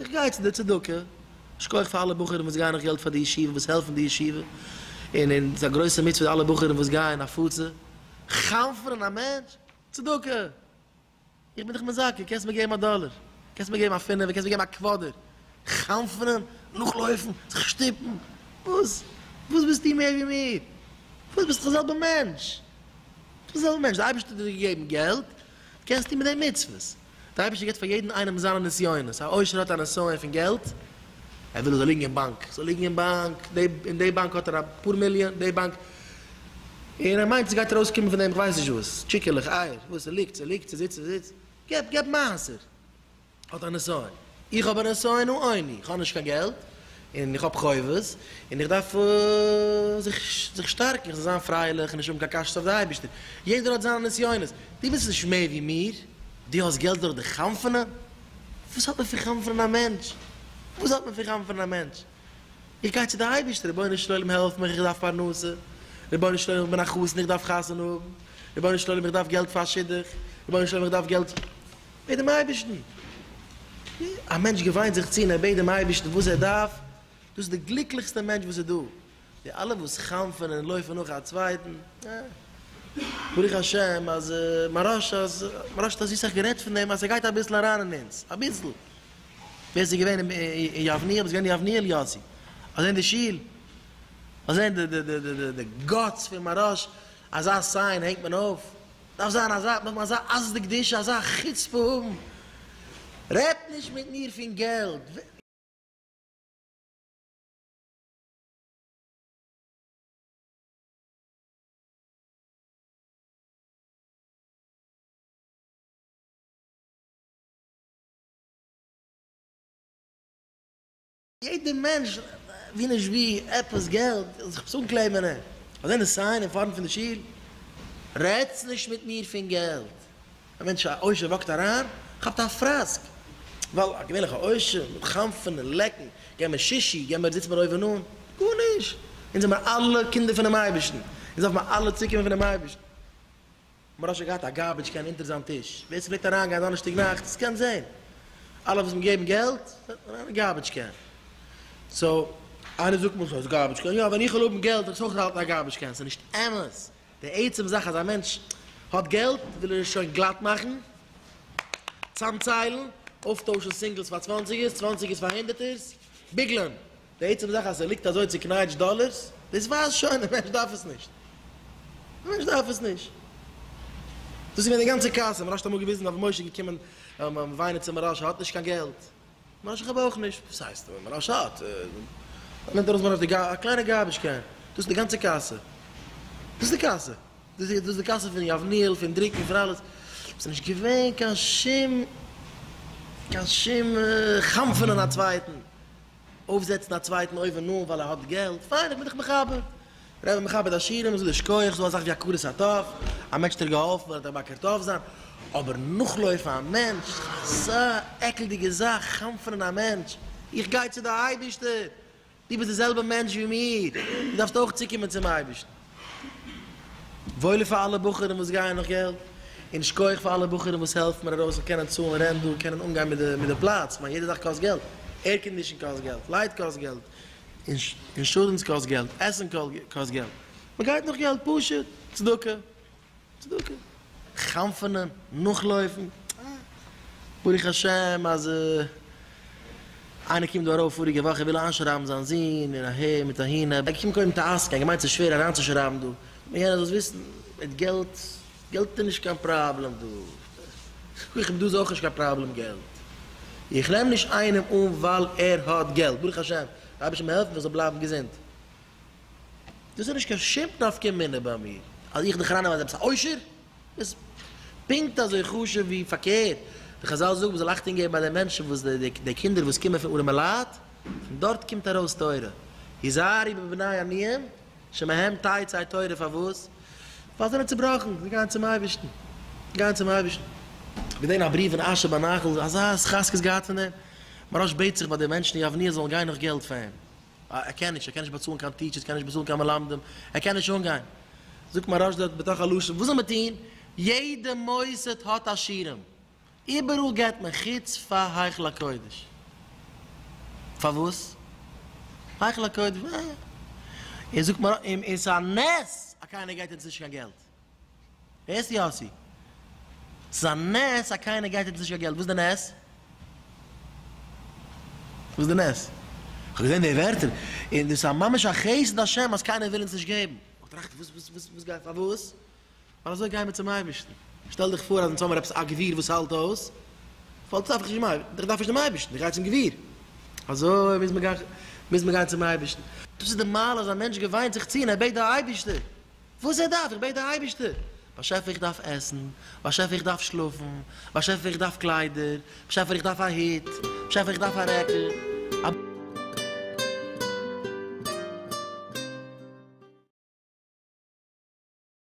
איך גיי צו די צדקה, שכח פאר אלע בחורים וואס גייען נאך געלט פאר די ישיבה, וואס העלפן די ישיבה, און און ס'איז א גרויסע מצוה די אלע בחורים וואס גייען הפצה, חנפ'נען א מענטש? צדקה! איך בין דיך מזכה, קענסט מיר געבן א דאלער, קענסט מיר געבן א פינעווער, קענסט מיר געבן א קוואדער, חנפ'נען, נאכלויפן, זיך שטופן, וואס? וואס ביסטו מער ווי מיר? וואס ביסט דאך די זעלבע מענטש, די זעלבע מענטש, די אייבערשטער האט דיר געגעבן געלט, קענסטו מיט דעם מצוות, דער אייבערשטער גיט פאר יעדן איינעם זיינע נסיונות, א עושר האט א נסיון פון געלט, ער וויל עס זאל ליגן אין באנק, עס זאל ליגן אין באנק, אין די באנק האט ער אפאר מיליאן, די באנק, און ער מיינט עס גייט ארויס קומען פון דעם כ'ווייס נישט וואס, טשיקעלעך, אייער, וואס, ס'ליגט, ס'ליגט, ס'זיצט, ס'זיצט, געב, געב מעשר, האט א נסיון. איך האב א נסיון העוני, איך האב נישט קיין געלט, און איך האב חובות, און איך דארף זיך שטארקן, איך זאל זיין פרייליך און נישט האבן קיין קשיות אויף די אייבערשטער. יעדער האט זיינע נסיונות. דו ביסט נישט מער ווי מיר? דו האסט געלט דורך די חנפ'ענען? וואס האט מען פון חנפ'ענען א מענטש? וואס האט מען פון חנפ'ענען א מענטש? איך גיי צו די אייבערשטער, רבונו של עולם העלף מיך, איך דארף פרנסה, רבונו של עולם איך בין א חתן איך דארף חתונה האבן, רבונו של עולם איך דארף געלט פאר א שידוך, רבונו של עולם איך דארף געלט מיט דעם אייבערשטן, א מענטש געוויינט זיך צו און ער בעט דעם אייבערשטן וואס ער דארף, דאס איז די גליקליכסטע מענטש וואס איז דא, די אלע וואס חנפ'ענען און לויפן נאך א צווייטן, אה, ברוך השם אז מרש אז מרש האט אזוי סאך גערעדט פון דעם אז ס'גייט אביסל אריין אין אונז, אביסל, ווער ס'איז געווען אין אין יבניאל איז געווען יבניאל יאסי, מ'האט געזען די שול, מ'האט געזען די די די די גאטס פון מרש, אזא סיין הענגט מען אויף, דארף זיין אזא נאך אזא עז דקדושה אזא חוצפה האבן, רעדט נישט מיט מיר פון געלט. יעדער מענטש ווי נישט ווי עפעס געלט זאל זיך עפעס אנקלעבען אין אזוי די סיין אין פארנט פון די שול, רעדטס נישט מיט מיר פון געלט, א מענטש א עושר וואקט אריין כאפט א פראסק, ווייל א געווענליכע עושר מיט חנפ'ן און לעקן, גיי מיר שישי, גיי מיר זיץ מיר אויבען אן, גארנישט, אונז זעמער אלע קינדער פונעם אייבערשטן, אונז דארף מיר אלע צוקומען פונעם אייבערשטן. מ'האט שוין געהאט א גארבידזש קען אונטער זיין טיש, ווער ס'וועט אריינגיין דאנערשטאג נאכט ס'קען זעהן, אלע וואס מ'געבן געלט זענען אריין אין גארבידזש קען, סאו איינער זאגט מיר ס'איז גארבידזש קען, יא ווען איך וועל האבן געלט וועל איך עס אויך האלטן א גארבידזש קען, ס'איז נישט אמת, די עצם זאך אז א מענטש האט געלט וויל ער עס שוין גלאט מאכן, צאמציילן, אויפטוישן סינגלס פאר צוואנציגערס, צוואנציגערס פאר הונדערטערס, ביגלען. די עצם זאך אז ס'ליגט אזוי צוקנייטשט דאלערס, דאס ווייזט שוין דער מענטש דארף עס נישט. דער מענטש דארף עס נישט. דאס איז געווען די גאנצע קאסע. מ'רשט האט אמאל געוויזן אויף משה געקומען וויינען צו מרש א האט נישט קיין געלט. מרש א כ'האב אויך נישט. וואס הייסט מרש א האט? ער נעמט ארויס מרש די גאר א קליינע גארבידזש קען. דאס איז די גאנצע קאסע. דאס איז די קאסע. דאס איז די קאסע פון יבנאל, פון דרוקן, פון אלעס. ס'איז נישט געווען קיין שום קיין שום חנפ'ענען א צווייטן. אויפזעצן א צווייטן אויבן אן ווייל ער האט געלט, פיין איך בין דיך מכבד, ר' איז מכבד עשירים און זאגט יישר כח, ס'דא אזאך ווי הכרת הטוב, א מענטש האט דיר געהאלפן און ער האט דיך באקערט אויף זיין, אבער נאכלויפן א מענטש, אזא עקלדיגע זאך, חנפ'נען א מענטש, איך גיי צו די אייבערשטער, דו ביסט די זעלבע מענטש ווי מיר, דו דארפסט אויך צוקומען צום אייבערשטן. וואויל פאר אלע בחורים וואס גייען נאך געלט, און שכוח פאר אלע בחורים וואס העלפט מיר ארויס זאל קענען צאלן רענט דא, קענען אנגיין מיט די מיט די פלאץ, כ'מיין יעדע זאך קאסט געלט, עירקאנדישן קאסט געלט, לייט קאסט געלט, אינשורענס קאסט געלט, עסן קאסט געלט, מ'גייט נאך געלט, פשוט צדקה, צדקה, חנפ'ענען, נאכלויפן, אה, ברוך השם אז איינער קומט דא ארויף פאריגע וואך, ער וויל איינשרייבן זיין זון און אהער מיט אהין, ער באקומט קודם טעסק, ער האט געמיינט ס'איז שווער אריינצושרייבן דא, און יענער זאל עס וויסן, מיט געלט, געלט איז נישט קיין פראבלעם דא, איך האב דא אויך נישט קיין פראבלעם געלט, איך נעם נישט איינעם אן ווייל ער האט געלט, ברוך השם, דער אייבערשטער זאל מיר העלפן איך זאל בלייבן געזונט, דאס איז נישט קיין שום נפקא מינה ביי מיר אז איך דערחנם אז עפעס א עושר איז פונקט אזוי חשוב ווי פארקערט, ווי חזל זאגן מ'זאל אכטונג געבן ביי די מענטשן וואס די קינדער וואס קומען פון ארעמע לייט, פון דארט קומט ארויס תורה, היזהרי בבני עניים שמהם תצא תורה פארוואס? ווייל זיי זענען צובראכן, זיי גייען צום אייבערשטן, זיי גייען צום אייבערשטן. געזען א בריוו אין אשר בנחל, אזא התחזקות געהאט פון דעם, מוהראש בעט זיך ביי די מענטשן אין יבניאל זאלן גיין נאך געלט פאר אים. אה, ער קען נישט, ער קען נישט באצאלן קיין טיטשערס, ער קען נישט באצאלן קיין מלמדים, ער קען נישט אנגיין. זאגט מהרש ד בתוך הלשון, וואס זאל מען טון? יעדע מוסד האט עשירים, איבעראל געבט מען חוץ פאר היכל הקודש. פארוואס? היכל הקודש, אה. און זאגט מהר א, און ס'איז א נס אז קיינער געבט אונז נישט קיין געלט. ווער איז יאסי? ס'איז א נס אז קיינער גייט יעצט נישט קיין געלט, וואס איז די נס? וואס איז די נס? כ'האב געזען די ווערטער, און דאס איז ממש א חסד השם אז קיינער וויל אונז נישט געבן. כ'האב געטראכט, וואס וואס וואס וואס גייט פארוואס? ווייל אזוי גייען מיר צום אייבערשטן. שטעל דיך פאר אז אונז האמיר עפעס א גביר וואס האלט אויס, פאלט אויס איך דארף נישט דעם אייבערשטן, איך גיי צום גביר. אזוי מוז מען גיין צום אייבערשטן. דאס איז די מעלה אז א מענטש געוויינט זיך צו און ער בעט די אייבערשטער. וואס איך דארף, איך בעט די אייבערשטער, באשעפער איך דארף עסן, באשעפער איך דארף שלאפן, באשעפער איך דארף קליידער, באשעפער איך דארף א הוט, באשעפער איך דארף א רעקל,